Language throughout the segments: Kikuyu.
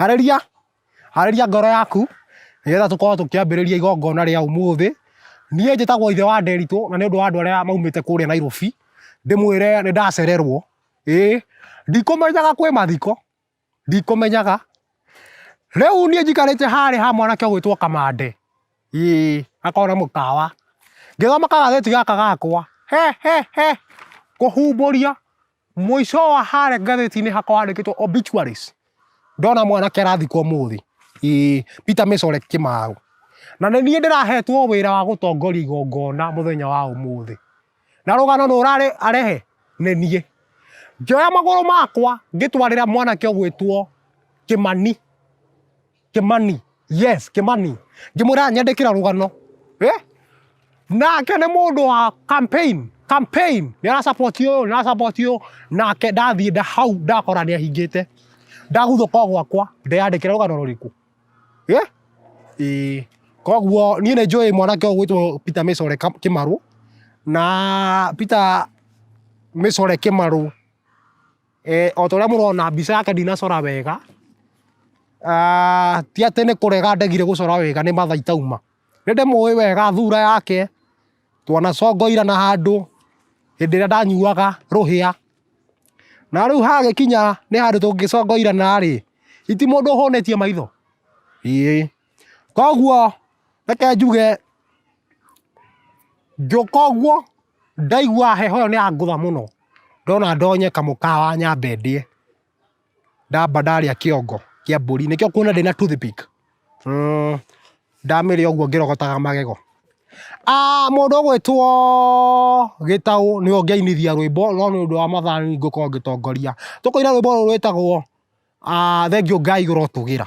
Harĩria, harĩria ngoro yaku nĩgetha tũkorwo tũkĩambĩrĩria igongona rĩa ũmũthĩ. Niĩ njĩtagwo ithe wa Nderitũ na nĩ ũndũ wa andũ arĩa maumĩte kũrĩa Nairobi, ndĩmwĩre nĩ ndacererwo. Ĩĩ, ndikũmenyaga kwĩ mathiko, ndikũmenyaga. Rĩu niĩ njikarĩte harĩa ha mwanake ũgwĩtwo Kamande, ĩĩ, hakoragwo na mũkawa. Ngĩthoma kagathĩti gaka gakwa, he he he, kũhumbũria, Mũico wa harĩa ngathĩti-inĩ hakwa handĩkĩtwo obituaries, ndona mwanake arathikwo ũmũthĩ, ĩĩ, Peter Mĩcore Kĩmaũ. Na nĩ niĩ ndĩrahetwo wĩra wa gũtongoria igongona mũthenya wa ũmũthĩ. Na rũgano nũ ũrarehe? Nĩ niĩ. Ngĩoya magũrũ makwa ngĩtwarĩra mwanake ũgwĩtwo Kĩmani. Kĩmani, yes, Kĩmani. Ngĩmwĩra anyandĩkĩra rũgano. Eh? Nake nĩ mũndũ wa campaign, campaign. Nĩ ara support ũyũ, nĩ ara support ũyũ. Nake ndathiĩ nda hau ndakora nĩ ahingĩte. Ndaguthũka gwakwa, ndeyandĩkĩra rũgano rũrĩkũ. Eh? Ĩĩ. Koguo niĩ nĩ njũĩ mwanake ũyũ gwĩtwo Peter Mĩcore Kĩmarũ na Peter Mĩcore Kĩmarũ Eh, o ta ũrĩa mũrona mbica yake ndinacora wega, ah, ti atĩ nĩ kũrega ndegire gũcora wega nĩ matha itauma. Nĩ ndĩmũĩ wega thura yake, twanacongoirana handũ hĩndĩ ĩrĩa ndanyuaga rũhĩa. Na rĩu hagĩkinya nĩ handũ tũngĩcongoirana rĩ, githĩ ti mũndũ ũhũnĩtie maitho? Ĩĩ. Koguo reke njuge ngĩũka ũguo Ndaigua heho ĩyo nĩyangũtha mũno, ndona ndonye kamũkawa nyambe ndĩe, ndamba ndarĩa kĩongo kĩa mbũri, nĩkĩo ũkuona ndĩna toothpick. Ndamĩrĩa ũguo ngĩrogotaga magego. Mũndũ ũgwĩtwo Gĩtaũ nĩwe ũngĩainithia rwĩmbo no nĩũndũ wa mathaa nĩniĩ ngũkorwo ngĩtongoria. Tũkũina rwĩmbo rũrũ rwĩtagwo, Thengiũ Ngai ũrotũgĩra.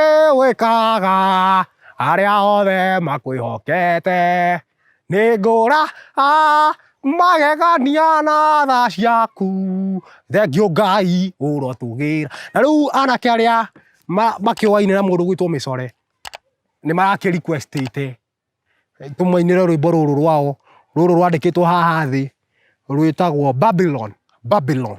Ĩĩ wĩkaga arĩa othe makwĩhokete nĩ ngũra a magegania na tha ciaku thengiũ ngai ũrotũgĩra na rĩu anake arĩa makĩũaine na mũndũ ũgwĩtwo mĩcore nĩ marakĩ request ĩte tũmainĩre rwĩmbo rũrũ rwao rũrũ rwandĩkĩtwo haha thĩ rwĩtagwo Babylon Babylon.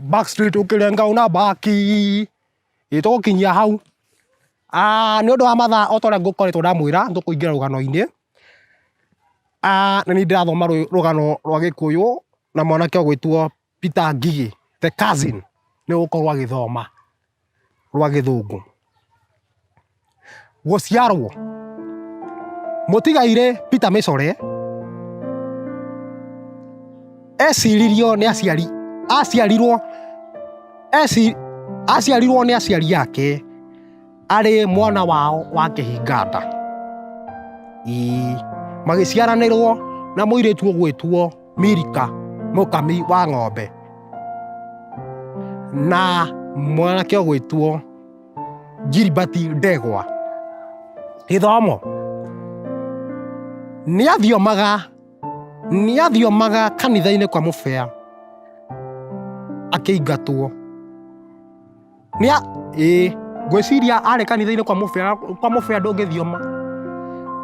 back street ukirenga una back itukinyia hau ah ni undu wa mathaa o toria ngukoretwo ndamwira ndukuingira rugano-ini ah na ni ndirathoma rugano rwa gikuyu na mwanake ugwitwo Peter Ngigi the cousin ni ugukorwo agithoma rwa gĩthũngũ gũciarwo mũtigairĩ Peter Mĩcore eciririo nĩ aciari aciarirwo eci aciarirwo nĩ aciari ake arĩ mwana wao wa kĩhinganda ii magĩciaranĩrwo na mũirĩtu ũgwĩtwo Milika mũkami wa ng'ombe na mwanake ũgwĩtwo Gilbert Ndegwa. Gĩthomo, nĩ athiomaga nĩ athiomaga kanitha-inĩ kwa mũbĩa akĩingatwo. Nĩ a ĩĩ ngwĩciria arĩ kanitha-inĩ kwa mũbĩa kwa mũbĩa ndũngĩthioma.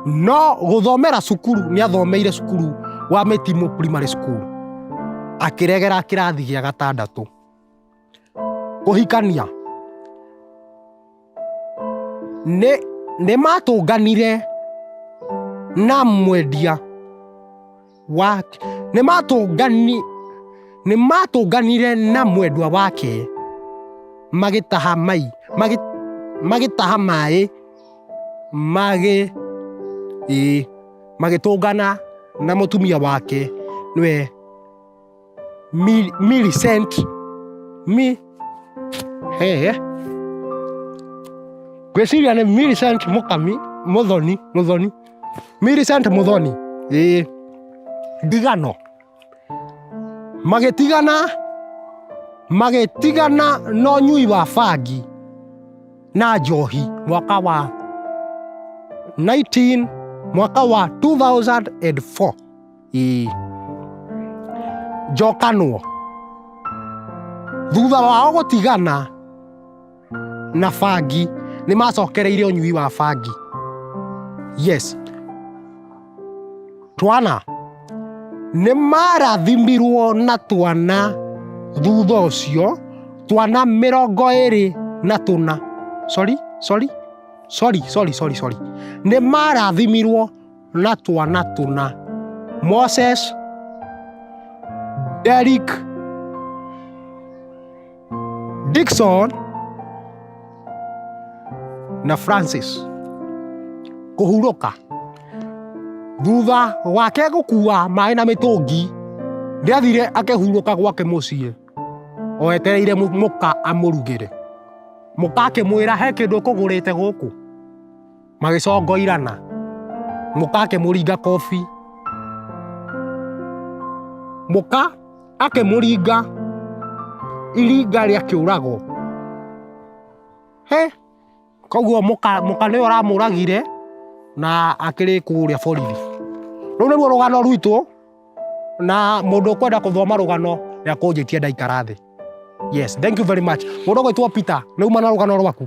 No gũthomera cukuru nĩ athomeire cukuru wa Mĩtimũ Primary School akĩregera kĩrathi gĩa gatandatũ. Kũhikania nĩ nĩ matũnganire na mwendia. wake nĩ matũngani nĩ matũnganire na mwendwa wake magĩtaha mai magĩ, magĩtaha maĩ magĩ ĩ magĩtũngana na mũtumia wake nĩwe Mil, millicent. Mi. Hey, hey. Gwĩciria nĩ millicent mũkami mũthoni mũthoni. Millicent mũthoni. Ĩĩ. Ndigano. Magĩtigana magĩtigana na ũnyui wa bangi na njohi mwaka wa 19 mwaka wa 2004 i njokanwo thutha wao gũtigana na bangi nĩ macokereire ũnyui wa bangi yes twana nĩ marathimirwo na twana thutha ũcio twana mĩrongo ĩrĩ na tũna sorry sorry sorry sorry sorry sorry nĩ marathimirwo na twana tũna. Moses, Derek, Dixon na Francis kũhurũka thutha wake gũkua maĩ na mĩtũngi nĩathire akĩhurũka gwake mũciĩ o etereire mũ- mũka amũrugĩre mũka akĩmwĩra he kĩndũ ũkũgũrĩte gũkũ magĩcongoirana mũka akĩmũringa kobi mũka akĩmũringa iringa rĩa kĩũrago he koguo mũka mũka nĩwe ũramũragire na akĩrĩ kũrĩa borithi rũu nĩruo rũgano rwitũ na mũndũ ũkwenda kũthoma rũgano nĩakũnjĩtie ndaikara thĩ yes thank you very much mũndũ ũgwĩtwo peter nĩuma na rũgano rwaku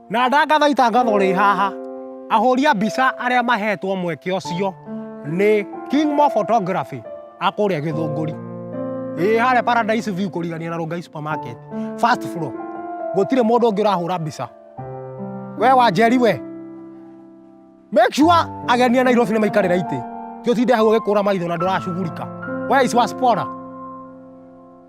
na ndangatho itangatho rĩ haha ahũri a mbica arĩa mahetwo mweke ũcio nĩ king mo photography akũrĩa gĩthũngũri ĩ harĩa paradise view kũrigania na rongai supermarket first floor gũtirĩ mũndũ ũngĩ ũrahũra mbica we wanjeri we make sure ageni a nairobi nĩ maikarĩra itĩ tiũtinde hau ũgĩkũra maitho na ndũracugurika we is waspora